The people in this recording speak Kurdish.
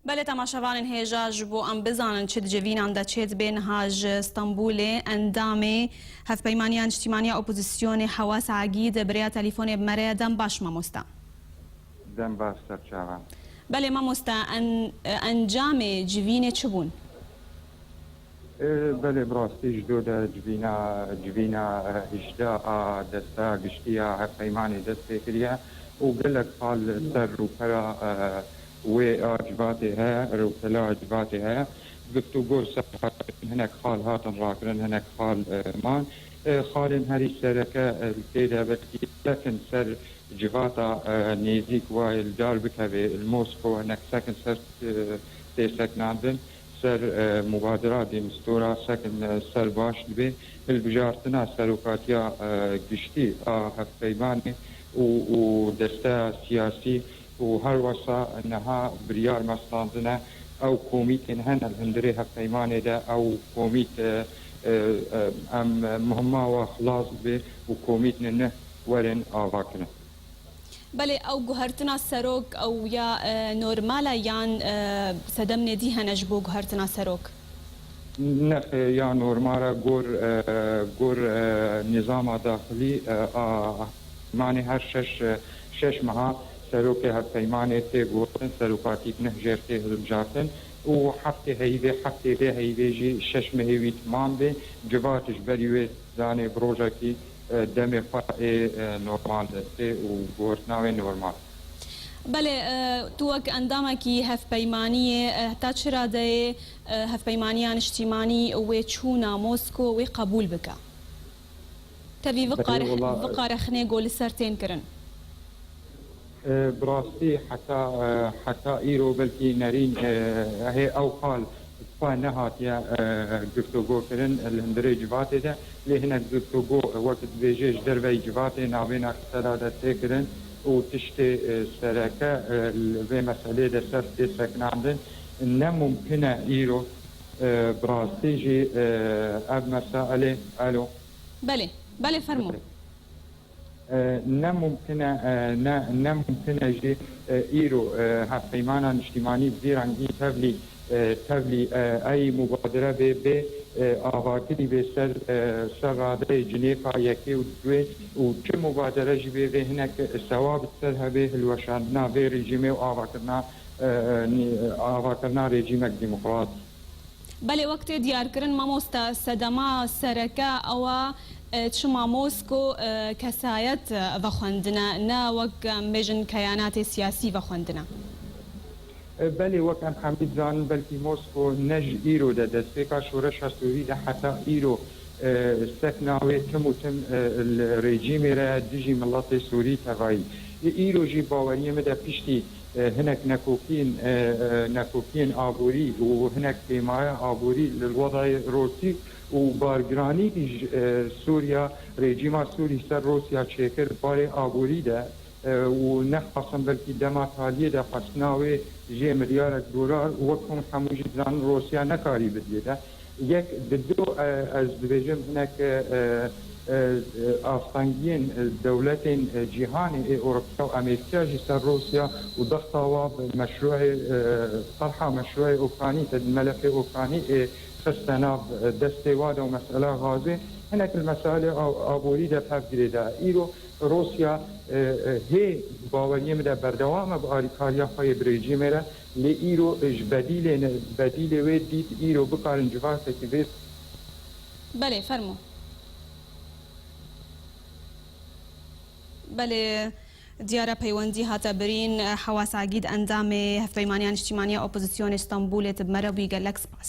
Belê temaşevanên hêja ji bo em bizanin çi di civînan de çê dibê niha ji Stenbûlê endamê Hevpeymaniya Niştîmaniya Opozîsyonê Hewas Agî di birêya telîfonê bi me re ye. Dem baş mamoste. Dem baş serçavan. Belê mamoste en encamê civînê çi bûn? Belê bi rastî ji do de civîna civîna hişde a desta giştî ya hevpeymanê dest pê kiriye û gelek sal li ser rûpera wê a civatê heye, rewtela civatê heye. Guftûgo li ser xalên hinek xal hatin rakirin hinek xal man. Xalên herî sereke li tê de belkî sek in ser civata nêzîk wayê li dar bikevê li Mosko hinek sek in ser tê seknandin. Ser mubadera dêmstora sekin ser baş dibe hilbijartina Serokatiya Giştî a Hevpeymanê û desteya siyasî û halwasa niha biryar mastandin e ew komîtên hene li hundirê hevpeymanê de ew komît em muhima wan xilas bibe û komîtnê nuh werin avakirin. Belê ew guhertina serok ew ya normal e yan sedem nêdî hene ji bo guhertina serok? Ne ya normal e gor gor nîzama daxilî a manê her şeş şeş meha serokê hevpeymanê tê gotin serokatîk neh jêr tê hilbijartin û heftê heyîvê heftê vê heyîvê jî şeş mehê wî timam bê civat ji berî wê Zanî bi rojekî demê xwe ê normal destê û guhertina wê normal. Belê, tu wek endamekî hevpeymaniyê heta çi radeyê Hevpeymaniya Niştîmanî wê çûna Mosko wê qebûl bike? Tevî viqare xinê go li ser tên kirin? Bi rastî heta heta îro belkî nerîn hê ew qal xwe nehatiye giftogokirin li hundirê civatê de lê hinek giftogo wek dibêjê ji derveyî civatê nabêne qise da destpêkirin û tiştê sereke li vê meselê de ser tê sekinandin ne mumkin e îro bi rastî jî ev mesaelê elo. Belê belê fermo. Ne mumkin e, ne ne mumkin e jî îro Hevpeymana Niştîmanî Zîran î Tevlî Tevlî eyî mubadire bê bê avakirî bê ser ser radeyê cinêka yekê û duê û çi mubadere jî bê vê hinek sewab di ser hebê hilweşandina vê rejîmê û avakirina avakirina rejîmek demokrat. Belê wek tê diyarkirin mamoste sedema sereke ew e çima Mosko kesayet vexwendine ne wek em bêjin keyanatê siyasî vexwendine. Belê wek em hemî dizanin belkî Mosko ne ji îro de destpêka şoreşa Sûrî de heta îro sekna wê tim û tim li rejîmê re ye dijî miletê Sûrî tevayî. Îro jî baweriyê min de piştî Hinek nekokîn, nekokîyên aborî û hinek pêmaya aborî li Rwadayê Rosî û bargiranî îj Sûriya rejîma Sûrî ser Rosîya çêkir barê aborî de û nexwasin belkî dema talîyê de xwestina wê jê milyarek dolar û wek hûn hemû jî dizanin Rosîya nekarî bidîye de Yek di du ez dibêjim hinek astengiyên dewletên cîhanê ê Ewropiya û Amerîkîya jî ser Rûsya û dexta wa bi meşrûeyê terha meşrûeyê Ûkranî te di melefê Ûkranî ê xiste nav destê wa de û mesela gazê hinek li mesailê aborî de pev girê da. Îro Rûsya hê di baweriyê min de berdewam e bi alîkariya xwe yê bi rejîmê re. Lê îro ji bedîlê ne, bedîlê wê dît îro bikarin civakekî vê. Belê, fermo. Belê, diyar e peywendî hate birîn. Hewas Egîd, endamê Hevpeymaniya Niştîmaniya Opozîsyonê Stenbolê, Ti bi me re bûyî gelek spas.